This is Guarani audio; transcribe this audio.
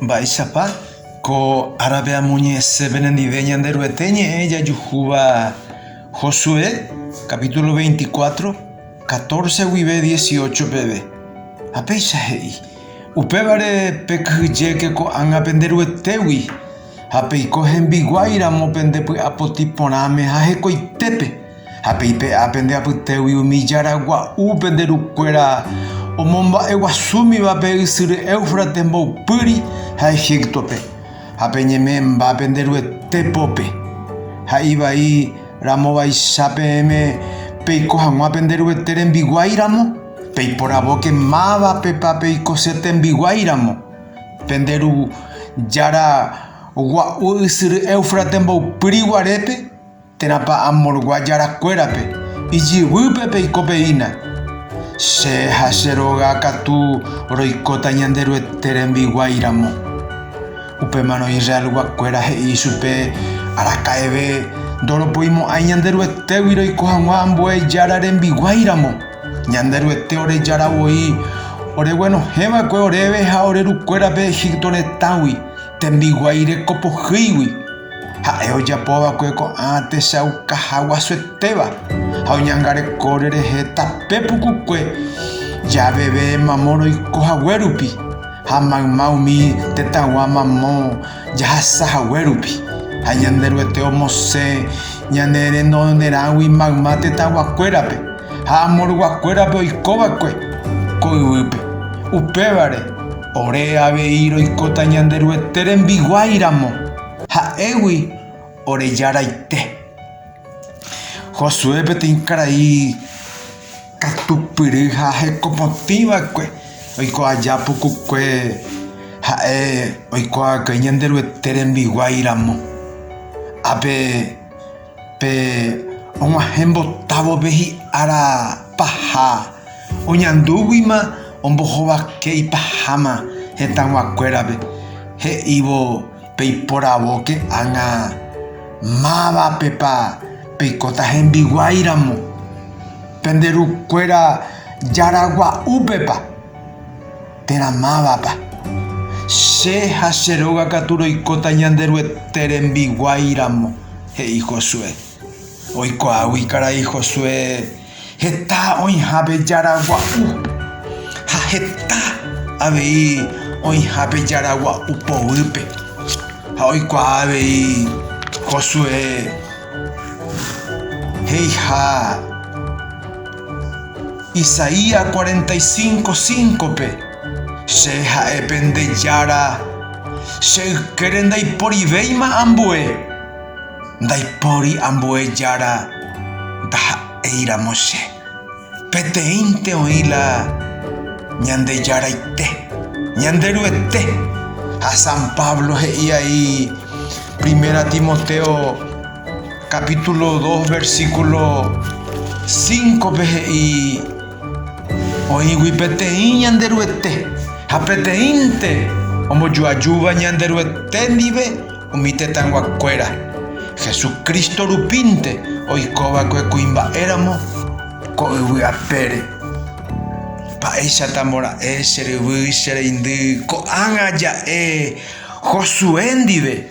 Mba'éichapa ko árape amoñe'ẽse penendive Ñanderuete ñe'ẽ jajuhúva Josué capítulo 24, 14 guive 18 peve. Ha péicha he'i, Upévare pekyhyjéke ko'ág̃a pende Ruetégui, ha peiko hembiguái ramo pende py'apotĩ porãme ha hekoitépe. Ha pe ipe'a pende apytégui umi jára gua'u pende rukuéra omomba'e guasúmiva pe ysyry Éufrates mboypýri ha Egíptope, ha peñeme'ẽmba pende Ruete pópe, ha ivai ramovaicha peẽme peiko hag̃ua pende Ruete rembiguái ramo, peiporavóke mávapepa peiko che tembiguái ramo, pende ru jára gua'u ysyry Éufrates mboypýri guarépe. Térãpa amorgua jarakuérape, ijyvýpe peiko peína, Che ha che róga katu roikóta Ñanderuete rembiguái ramo. Upémarõ Israelguakuéra he'i ichupe, Araka'eve ndoropoimo'ãi Ñanderuetégui roiko hag̃ua ambue Jára rembiguái ramo. Ñanderuete ore Jára voi oreguenohẽ va'ekue oréve ha ore rukuérape Egipto retãgui, tembiguái reko pohýigui. Ha'e ojapo va'ekue ko'ã techauka haguasuetéva ha oñangareko rerehe tape pukukue javeve mamo roiko hague rupi ha mayma umi tetãgua mamo jahasa hague rupi. Ha Ñanderuete omosẽ ñane renonerãgui mayma tetãguakuérape ha amorguakuérape oiko va'ekue ko yvýpe. Upévare, Ore avei roikóta Ñanderuete rembiguái ramo, ha'égui oreja raite. Josué peteĩ karai katupyry ha hekopotĩ va'ekue, oiko aja pukukue ha'e oiko va'ekue Ñanderuete rembiguái ramo. Ápe. Pe og̃uahẽ mbotávove hi'ára paha oñandúguima ombohovake ipaháma hetãguakuérape, he'ívo peiporavóke ág̃a mávapepa peikóta hembiguái ramo, pende rukuéra jaragua'úpepa. Térã mávapa, che ha che róga katu roikóta Ñanderuete rembiguái ramo, he'i Josué. Oikuaágui karai Josué heta oĩhápe jára gua'u ha heta avei oĩhápe jára gua'u poguýpe. Ha oikuaa avei Josué he'iha. Isaías cuarenta y cinco, cinco-pe, Che ha'e pende Jára, che ykére ndaiporivéima ambue, ndaipóri ambue Jára, ndaha'éiramo che. Peteĩnte oĩ la Ñandejaraite, Ñanderuete. Ha San Pablo he'i ai Primera Timoteo. capítulo 2, versículo 5-pe he'i, Oĩgui peteĩ Ñanderuete, ha peteĩnte ombojoajúva Ñanderuete ndive umi tetãyguakuéra, Jesucristo rupínte oikova'ekue kuimba'éramo ko yvy apére. Mba'éicha tambora'e che ryvy, che reindy, ko'ág̃a ja'e Josué ndive.